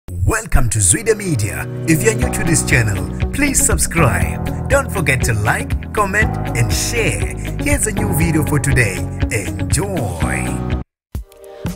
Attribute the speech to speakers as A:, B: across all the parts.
A: Welcome to Zwide Media. If you're new to this channel, please subscribe. Don't forget to like, comment, and share. Here's a new video for today. Enjoy.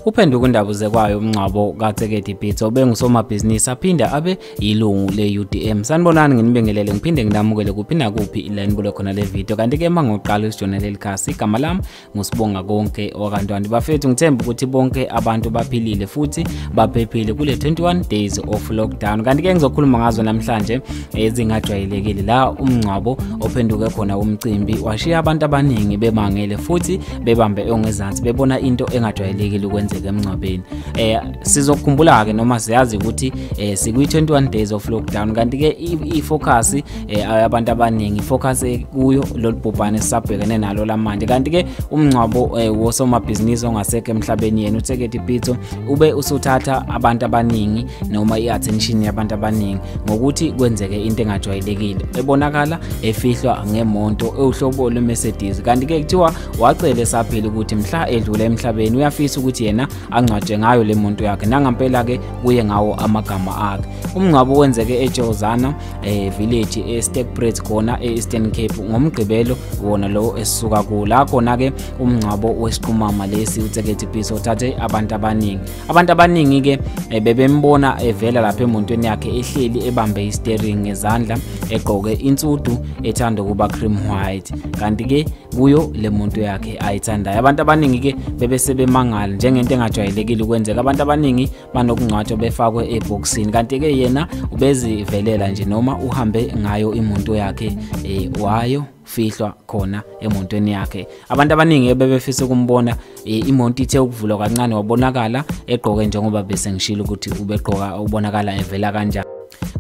B: Uphenduka indaba uzekwayo umngcwabo kaTsekedi Pitso obengusomabhizinisi aphinde abe yilungu le-UDM. Sanibonani nginibingelele ngiphinde nginamukele kuphi nakuphi la nibuke khona le video kanti-ke uma ngiwuqala usijona leli khasi igama lami ngusibonga konke okwakantwana bafethu ngithemba ukuthi bonke abantu baphilile futhi baphephile kule 21 days of lockdown kanti-ke ngizokhuluma ngazo namhlanje ezingajwayelekile la umngcwabo ophenduke khona umcimbi washiya abantu abaningi bemangele futhi bebambe ongezansi bebona into engajwayelekile ukwenzeka emngcwabeni eh sizokhumbula-ke noma siyazi ukuthi eh sikwi-21 days of lockdown kanti-ke i-focus eh, abantu abaningi focus eh, kuyo lolu bhubhane esisabhekene nalo lamanje kanti-ke umngcwabo eh, wosomabhizinisi ongasekho emhlabeni yena utheketi pitso ube usuthatha abantu abaningi noma i-attention yabantu abaningi ngokuthi kwenzeke into engajwayelekile ebonakala efihlwa ngemonto ewuhlobo lwemercedes kanti-ke kuthiwa wacele saphila ukuthi mhla edlule emhlabeni uyafisa ukuthi yena angcwaje ngayo le monto yakhe nangampela-ke kuye ngawo amagama akhe umngcwabo wenzeke ejozana eh, village eStepbridge eh, khona eEastern Cape ngomgqibelo wona lo esisuka ku la khona ke umngcwabo wesiqumama lesi uTseketi Peace othathe abantu abaningi abantu abaningi ke eh, bebembona evela lapha emontweni yakhe ehleli ebambe isteering ngezandla egqoke insudu ethanda ukuba cream white kanti ke kuyo le monto yakhe ayithandayo abantu abaningi ke bebesebemangala njengento engajwayelekile ukwenzeka abantu abaningi banokungcwatshwa befakwe ebhokisini kanti-ke yena ubezivelela nje noma uhambe ngayo imoto yakhe eh, wayo fihlwa khona emontweni yakhe abantu abaningi ebebefisa ukumbona e, imonto ithe ukuvulwa kancane wabonakala egqoke njengoba bese ngishilo ukuthi ubegqoka ubonakala evela kanjani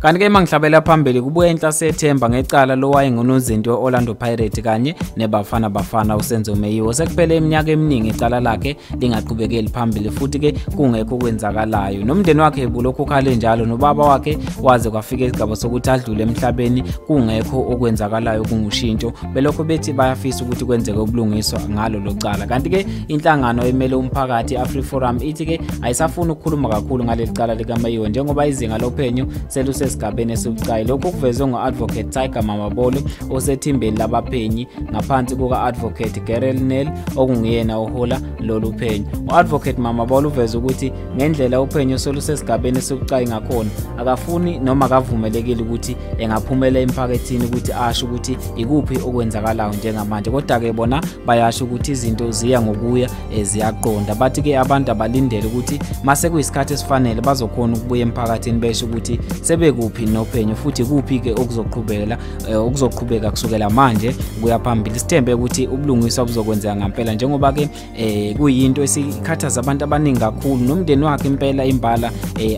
B: kanti ke mangihlabela phambili kubuye inhlase ethemba ngecala lowayengunozinti we-orlando pirate kanye nebafana bafana usenzo meyiwo sekuphele iminyaka eminingi icala lakhe lingaqhubekeli phambili futhi ke kungekho okwenzakalayo nomndeni wakhe bulokhu ukhale njalo nobaba wakhe waze kwafika isigaba sokuthi adlule emhlabeni kungekho okwenzakalayo kungushintsho belokho bethi bayafisa ukuthi kwenzeke ubulungiswa ngalo lo cala kanti ke Inhlangano emele umphakathi iAfri Forum ithi ke ayisafuni ukukhuluma kakhulu ngaleli cala likaMayiwe njengoba izinga lophenyo selusesigabeni esibucayi. Lokhu kuvezwe ngo-Advocate Tiger Mamabolo osethimbeni labaphenyi ngaphansi kuka-Advocate Gerel Nel okunguyena ohola lolu phenyo. U-Advocate Mamabolo uveze ukuthi ngendlela uphenyo selusesigabeni esibucayi ngakhona akafuni noma akavumelekile ukuthi engaphumela emphakathini ukuthi asho ukuthi ikuphi okwenzakalayo njengamanje kodwa-ke bona bayasho ukuthi izinto ziya ngokuya eh, ziyaqonda bathi ke abantu abalindele ukuthi mase kuyisikhathi esifanele bazokhona ukubuya emphakathini besho ukuthi sebekuphi nophenyo futhi kuphi ke okuzoqhubela eh, okuzoqhubeka kusukela manje kuya phambili sithembe ukuthi ubulungiswa buzokwenzeka ngempela njengoba ke eh, kuyinto esikhathaza abantu abaningi kakhulu nomndeni wakhe impela imbala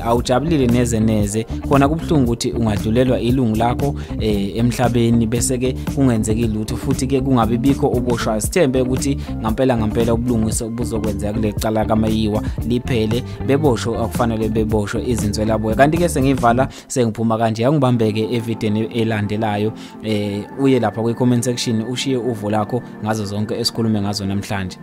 B: awujabulile neze neze khona kubuhlungu ukuthi ungadlulelwa ilungu lakho eh emhlabeni bese ke kungenzeki lutho futhi ke kungabe bikho oboshwayo sithembe ukuthi ngampela ngampela ubulungiswa obuzokwenzeka kulecala kamayiwa liphele beboshwe akufanele beboshwe izinswela boya kanti ke sengivala sengiphuma kanje yangibambeke evideni elandelayo eh uye lapha kwi comment section ushiye uvo lakho ngazo zonke esikhulume ngazo namhlanje